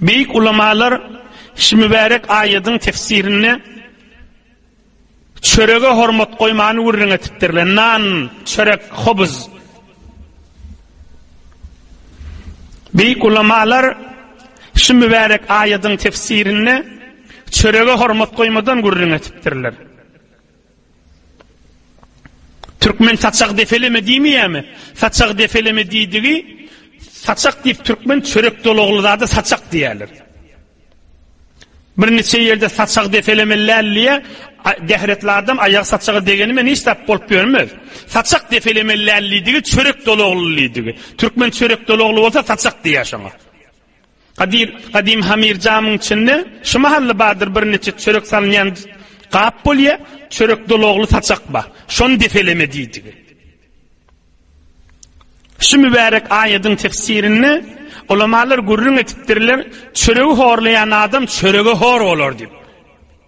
Beýik ulamalar şu mübärek aýadyň tefsirinde çörege hormat goýmany gürrüň etipdirler. Nan, çörek, hobuz. Beýik ulamalar şu mübärek aýadyň tefsirinde çörege hormat goýmadan gürrüň etipdirler. Türkmen saçak defeleme diýmeýärmi? Saçak defeleme diýdigi saçak diýip türkmen çörek dolagly zada saçak diýerler. Bir neçe ýerde saçak defeleme lälliýe dehretli adam aýak saçaga degeni men hiç tap bolup görmez. Saçak defeleme lälliýdigi çörek dolagly diýdigi. Türkmen çörek dolagly bolsa saçak diýýär şoňa. Gadyr, gadym hamir jamyň içinde şu mahally bardyr birniçe çörek salynýan gap bolýa, çörek dolagly saçak bar. Şony depeleme diýdigi. Şu mübärek aýadyň tefsirinde ulamalar gürrüň etipdirler, çöregi horlaýan adam çörege hor bolar diýip.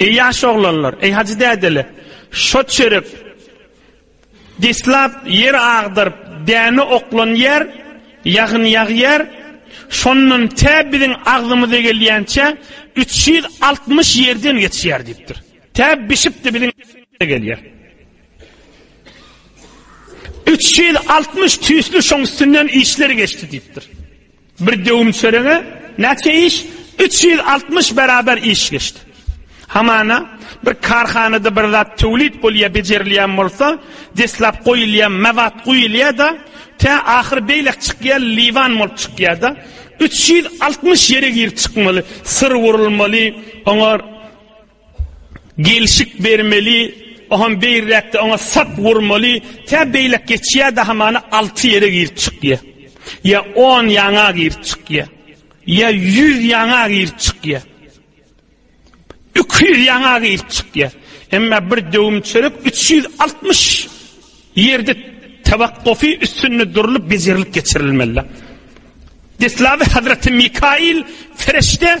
Eý ýaş oglanlar, eý hajy dädeler, şo çörek deslap ýer agdaryp däne oklanýar, ýagyn ýagýar, şondan tä biziň agzymyza gelýänçä üç ýüz altmyş ýerden geçýär diýipdir. Tä bişip-de biziň agzymyza gelýär. Üç ýüz altmyş tüýsli şoň üstünden işler geçdi diýipdir. Bir döwüm çörege näçe iş? Üç ýüz altmyş beraber iş geçdi. Hamana, bir karhanada bir zat töwlit bolýar, bejerilýän bolsa, deslap goýulýan mewat guýulýar-da, tä ahyry beýlek çykýar, liwan bolup çykýar-da, üç ýüz altmyş ýere girip çykmaly, syr urulmaly, oňa Gelşik bermeli, oham beýräkde oňa sap urmaly, tä beýläk geçýär dahamana alty ýere girip çykýa. Ýa on ýaňa girip çykýa. Ýa ýüz ýaňa girip çykýa. Iki ýüz ýaňa girip çykýa. Emma bir döwüm çörek üç ýüz altmyş ýerde tawakkufi üstünde durlup bejerilip geçirilmeli. Deslaby Hazreti Mikail ferişde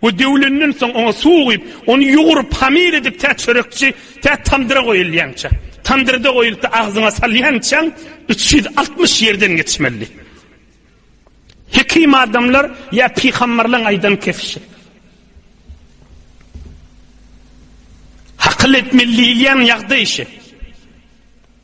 We döwlenden soň oňa suw guýup, ony ýugrup, hamir edip, tä çörekçi, tä tamdyra goýulýança, tamdyrda goýulyp-da agzyňa salýançaň üç ýüz altmyş ýerden geçmeli. Hekim adamlar ýa pygamberleň aýdan kesişi. Hakyl etmeli diýilýän ýagdaý şe.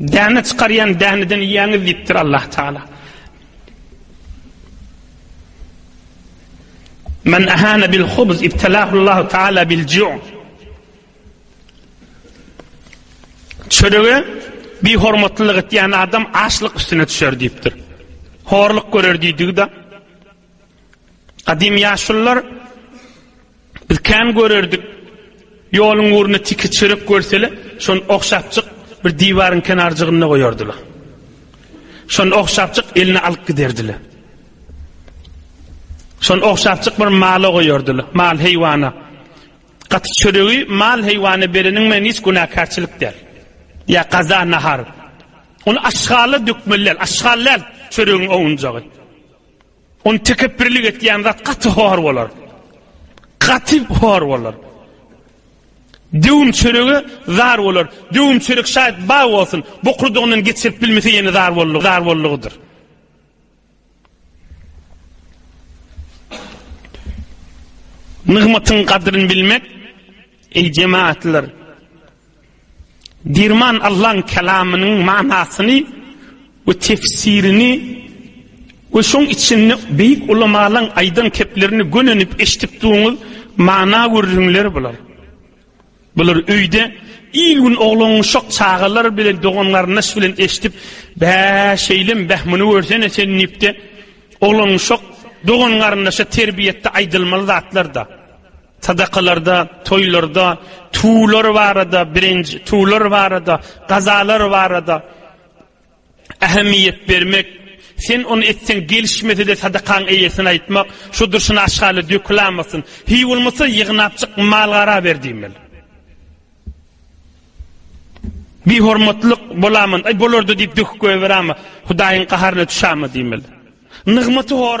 Däne çykarýan däneden iýýäňiz diýipdir Allah Taala. Men ahana bil hubz ibtalahu Allah Taala bil ju'. Çörege bi hormatlylyk etýän adam açlyk üstüne düşer diýipdir. Horluk görer diýdigi-de. Gadym ýaşulylar biz kän görerdik. Ýoluň ugruna tiki çörek görsele, şony ogşapjyk bir diwaryň kenarjygynda goýardylar. Şony ogşapjyk eline alyp giderdiler. Şony ogşapjyk bir mala goýardylar, mal heýwana. Gaty çöregi mal heýwana bereniň men hiç günäkärçilik däl. Ýa gaza nahar. Ony aşgala dökmeli, aşgal däl çöregiň ownjagy. Ony tekepbirlik etýän zat gaty hor bolar. Gaty hor bolar. Döwüm çörege zar bolar. Döwüm çörek şaýat ba bolsun. Bokurdygyndan geçirip bilmese ýene zar bolly, zar bollygydyr. Nygmatyň gadryny bilmek, eý jemaatlar, Derman Allaň kelamynyň manasyny we tefsirini we şoň içinde beýik ulamalaň aýdan keplerini gönenip eşidip duruňyz, mana gürrüňler bular. Bular öýde il gün oglanuşak çagalar bilen dogan garyndaş bilen eşidip, bä şeýlem bäh muny görsene sen diýipde oglanuşak dogan garyndaşa terbiýetde aýdylmaly zatlar da. Sadakalarda, toýlarda, tuwlar barada, birinj tuwlar barada, gazalar barada ähemiýet bermek, sen ony etseň gelişmese-de sadakaň eýesine aýtmak, şu durşuna aşgala dökülamasyn, hiý bolmasa ýygnapjyk mal-gara ber diýmeli. Bihormatlyk bolaman, aý bolardy diýip döküp goýberama, Hudaýyň gaharyna düşäme diýmeli. Nygmaty hor.